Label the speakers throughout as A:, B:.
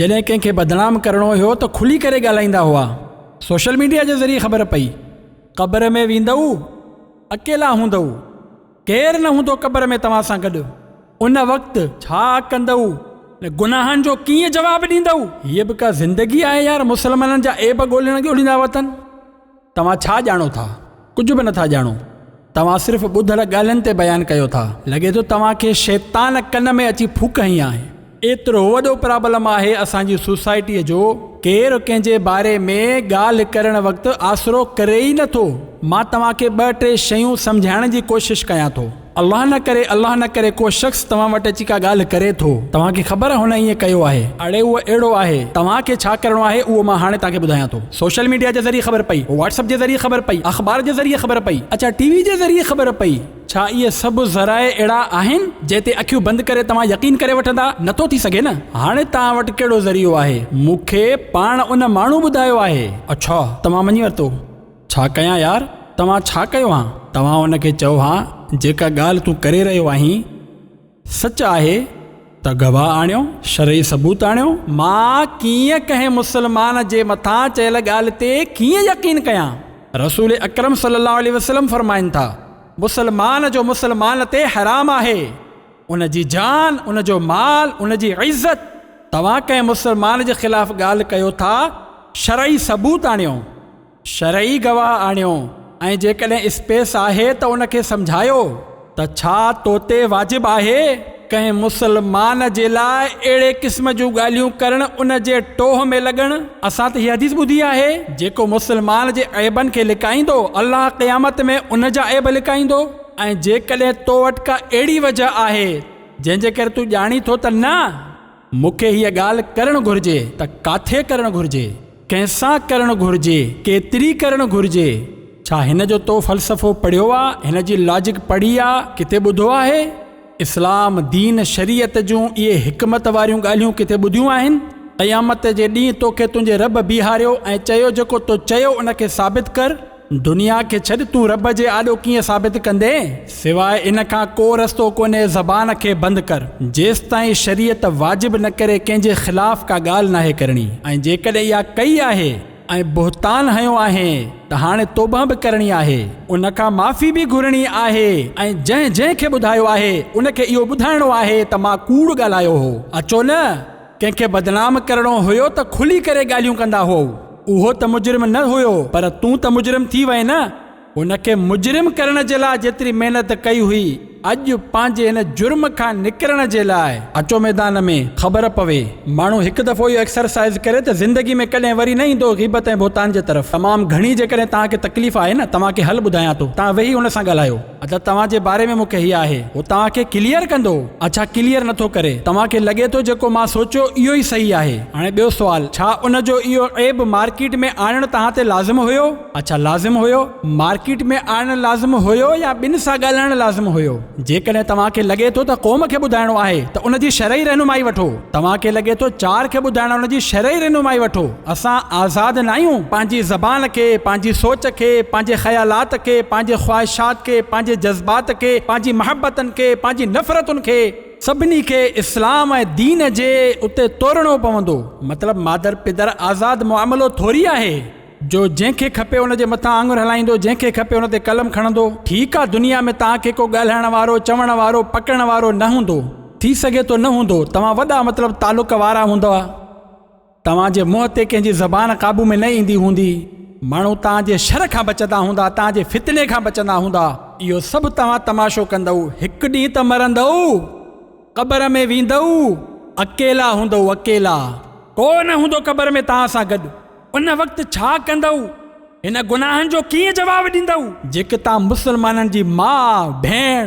A: جڏهن ڪنهن کي بدنام ڪرڻو هيو ته کلي ڪري ڳالهائيندا هئا. سوشل ميڊيا جي ذريعي خبر پئي. قبر ۾ ويندؤ، اڪيلا هوندؤ. ڪير نه هوندو قبر ۾ توهان سان گڏ. ان وقت ڇا ڪندؤ؟ ۽ گناهن جو ڪيئن جواب ڏيندؤ؟ هيء به ڪا زندگي آهي يار، مسلمانن جا عيب ڳولڻ ڳوليندا وتن. توهان ڇا ڄاڻو ٿا؟ ڪجهه به نٿا ڄاڻو. توهان صرف ٻڌل ڳالهين تي بيان ڪيو ٿا. لڳي ٿو توهان کي شيطان ڪن ۾ اچي ڦوڪ هنئي آهي. ايترو وڏو پرابلم آهي اسان جي سوسائٽيء جو، ڪير ڪنهن جي باري ۾ ڳالهه ڪرڻ وقت آسرو ڪري ئي نٿو. مان توهان کي ٻه ٽي شيون سمجهائڻ جي ڪوشش ڪيان ٿو. الله نه ڪري الله نه ڪري ڪو شخص توهان وٽ اچي ڪا ڳالهه ڪري ٿو، توهان کي خبر آهي هن ائين ڪيو آهي، اڙي اهو اهڙو آهي، توهان کي ڇا ڪرڻو آهي اهو مان هاڻي توهان کي ٻڌايان ٿو. سوشل ميڊيا جي ذريعي خبر پئي، واٽس اپ جي ذريعي خبر پئي، اخبار جي ذريعي خبر پئي، اچا ٽي وي جي ذريعي خبر پئي، ڇا اهي سڀ ذرائع اهڙا آهن جنهن تي اکيون بند ڪري توهان يقين ڪري وٺندا، نه ٿو ٿي سگهي نه، هاڻي توهان وٽ ڪهڙو ذريعو آهي، مون کي پاڻ ان ماڻهو ٻڌايو آهي. اڇا توهان مڃي ورتو. ڇا ڪيان يار، توهان ڇا ڪيو هان؟ توهان ان کي چئو هان جيڪا ڳالهه تون ڪري رهيو آهين سچ آهي ته گواهه آڻيو، شرعي ثبوت آڻيو. مان ڪيئن ڪنهن مسلمان جي مٿان چيل ڳالهه تي ڪيئن يقين ڪيان؟ رسول اڪرم صلي الله عليه وسلم فرمائن ٿا، مسلمان جو مسلمان تي حرام آهي، ان جي جان، ان جو مال، ان جي عزت، توهان ڪنهن مسلمان جي خلاف ڳالهه ڪيو ٿا، شرعي ثبوت آڻيو. شرعي گواهه آڻيو ۽ جيڪڏهن اسپيس آهي ته ان کي سمجهايو ته ڇا تو تي واجب آهي ڪنهن مسلمان جي لاء اهڙي قسم جون ڳالهيون ڪرڻ ان جي ٽوهه ۾ لڳڻ اسان ته هي حديث ٻڌي آهي جيڪو مسلمان جي عيبن کي لڪائيندو الله قيامت ۾ ان جا عيب لڪائيندو ۽ جيڪڏهن تو وٽ ڪا اهڙي وجهه آهي جنهن جي ڪري تون ڄاڻين ٿو ته نه مون کي هيء ڳالهه ڪرڻ گهرجي ته ڪاٿي ڪرڻ گهرجي؟ ڪنهن سان ڪرڻ گهرجي؟ ڪيتري ڪرڻ گهرجي؟ ڇا هن جو تو فلسفو پڙهيو آ؟ هن جي لاجڪ پڙهي آ؟ ڪٿي ٻڌو آهي؟ اسلام، دين، شريعت جون اهي حڪمت واريون ڳالهيون ڪٿي ٻڌيون آهن؟ قيامت جي ڏينهن توکي تنهنجي رب بيهاريو ۽ چيو جيڪو تو چيو ان کي ثابت ڪر. دنيا کي ڇڏ تون رب جي آڏو ڪيئن ثابت ڪندين؟ سواء ان کان ڪو رستو ڪونهي زبان کي بند ڪر جيستائين شريعت واجب نه ڪري ڪنهن جي خلاف ڪا ڳالهه ناهي ڪرڻي ۽ جيڪڏهن اها ڪئي آهي ۽ بهتان هنيو آهين ته هاڻي توبهه به ڪرڻي آهي ان کان معافي به گهرڻي آهي ۽ جنهن جنهن کي ٻڌايو آهي ان کي اهو ٻڌائڻو آهي ته مان ڪوڙ ڳالهايو هو اچو نه ڪنهن کي بدنام ڪرڻو هيو ته کلي ڪري ڳالهيون ڪندا هئو. اهو ته مجرم نه هيو پر تون ته مجرم ٿي وئين نه. هن کي مجرم ڪرڻ جي لاء جيتري محنت ڪئي هئي اڄ پنهنجي هن جرم کان نڪرڻ جي لاء. اچو ميدان ۾ خبر پوي. ماڻهو هڪ دفعو اهو ايڪسرسائيز ڪري ته زندگي ۾ ڪڏهن وري نه ايندو غيبت ۽ بهتان جي طرف. تمام گهڻي جيڪڏهن توهان کي تڪليف آهي نه توهان کي حل ٻڌايان ٿو. توهان ويهي هن سان ڳالهايو. ادا توهان جي باري ۾ مونکي هي آهي هو توهان کي ڪليئر ڪندو اڇا ڪليئر نٿو ڪري توهان کي لڳي ٿو جيڪو مان سوچيو اهو ئي صحيح آهي هاڻي ٻيو سوال ڇا ان جو اهو عيب مارڪيٽ ۾ آڻڻ توهان تي لازم هيو اڇا لازم هيو مارڪيٽ ۾ آڻڻ لازم هيو يا ٻن سان ڳالهائڻ لازم هيو جيڪڏهن توهان کي لڳي ٿو ته قوم کي ٻڌائڻو آهي ته ان جي شرعي رهنمائي وٺو توهان کي لڳي ٿو چار کي ٻڌائڻ ان جي شرعي رهنمائي وٺو. اسان آزاد ناهيون پنهنجي زبان کي، پنهنجي سوچ کي، پنهنجي خيالات کي، پنهنجي خواهشات کي، پنهنجي جذبات کي، پنهنجي محبتن کي، پنهنجي نفرتن کي. سڀني کي اسلام ۽ دين جي اتي تورڻو پوندو. مطلب مادر پدر آزاد معاملو ٿوري آهي جو جنهن کي کپي ان جي مٿان آڱر هلائيندو، جنهن کي کپي ان تي قلم کڻندو. ٺيڪ آ دنيا ۾ توهان کي ڪو ڳالهائڻ وارو، چوڻ وارو، پڪڙڻ وارو نه هوندو. ٿي سگهي ٿو نه هوندو. توهان وڏا مطلب تعلق وارا هوندئا. توهان جي منهن تي ڪنهن جي زبان قابو ۾ نه ايندي هوندي، ماڻهو توهان جي شر کان بچندا هوندا، توهان جي فتني کان بچندا هوندا. اهو سڀ توهان تماشو ڪندؤ، هڪ ڏينهن ته مرندؤ، قبر ۾ ويندؤ، اڪيلا هوندؤ، اڪيلا. ڪو نه هوندو قبر ۾ توهان سان گڏ، ان وقت ڇا ڪندؤ، هن گناهن جو ڪيئن جواب ڏيندؤ؟ جيڪي توهان مسلمانن جي ماء، ڀيڻ.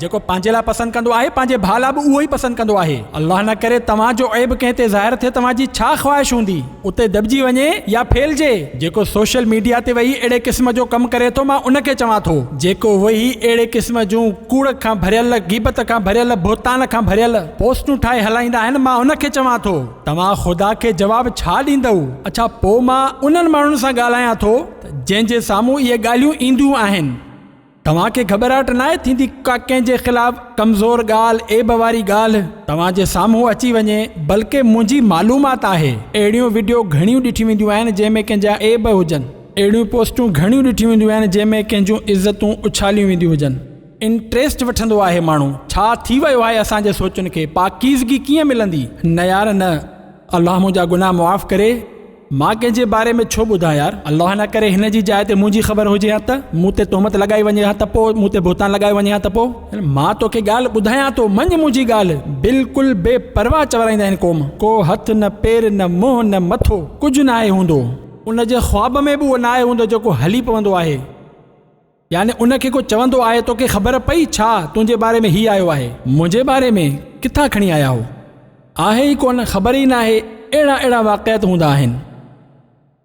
A: جيڪو پنهنجي لاء پسند ڪندو آهي، پنهنجي ڀاء لاء به اهو ئي پسند ڪندو آهي. الله نه ڪري توهان جو عيب ڪنهن تي ظاهر ٿئي توهان جي ڇا خواهش هوندي؟ اتي دٻجي وڃي يا ڦهلجي. جيڪو سوشل ميڊيا تي ويهي اهڙي قسم جو ڪم ڪري ٿو مان ان کي چوان ٿو. جيڪو ويهي اهڙي قسم جون ڪوڙ کان ڀريل، غيبت کان ڀريل، بهتان کان ڀريل پوسٽون ٺاهي هلائيندا آهن مان ان کي چوان ٿو. توهان خدا کي جواب ڇا ڏيندؤ؟ اڇا پوء مان انهن ماڻهن سان ڳالهايان ٿو ته جنهن جي سامهون اهي ڳالهيون اينديون آهن. توهان کي گهٻراهٽ ناهي ٿيندي ڪا ڪنهن جي خلاف ڪمزور ڳالهه، عيب واري ڳالهه توهان جي سامهون اچي وڃي بلڪه منهنجي معلومات آهي اهڙيون وڊيو گهڻيون ڏٺيون وينديون آهن جنهن ۾ ڪنهن جا عيب هجن، اهڙيون پوسٽون گهڻيون ڏٺيون وينديون آهن جنهن ۾ ڪنهن جون عزتون اڇاليون وينديون هجن. انٽريسٽ وٺندو آهي ماڻهو ڇا ٿي ويو آهي اسان جي سوچن کي پاڪيزگي ڪيئن ملندي نه يار نه الله منهنجا گناهه معاف ڪري. مان ڪنهن جي باري ۾ ڇو ٻڌان يار؟ الله نه ڪري هن جي جاء تي منهنجي خبر هجي ها ته؟ مون تي تهمت لڳائي وڃي ها ته پوء؟ مون تي بهتان لڳايو وڃي ها ته پوء؟ مان توکي ڳالهه ٻڌايان ٿو، مڃ منهنجي ڳالهه. بلڪل بي پرواهه چورائيندا آهن قوم. ڪو هٿ نه پير نه منهن نه مٿو، ڪجهه ناهي هوندو. ان جي خواب ۾ به اهو ناهي هوندو جيڪو هلي پوندو آهي. يعني ان کي ڪو چوندو آهي توکي خبر پئي ڇا تنهنجي باري ۾ هي آيو آهي؟ منهنجي باري ۾ ڪٿان کڻي آيا هو؟ آهي ئي ڪونه، خبر ئي ناهي اهڙا اهڙا واقعات هوندا آهن.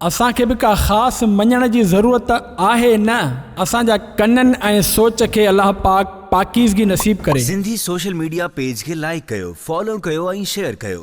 A: اسان کي به ڪا خاص مڃڻ جي ضرورت آهي نه، اسان جا ڪنن ۽ سوچ کي الله پاڪ پاڪيزگي
B: نصيب ڪري. سنڌي سوشل
A: ميڊيا
B: پيج کي لائيڪ
A: ڪيو،
B: فالو ڪيو
A: ۽
B: شيئر ڪيو.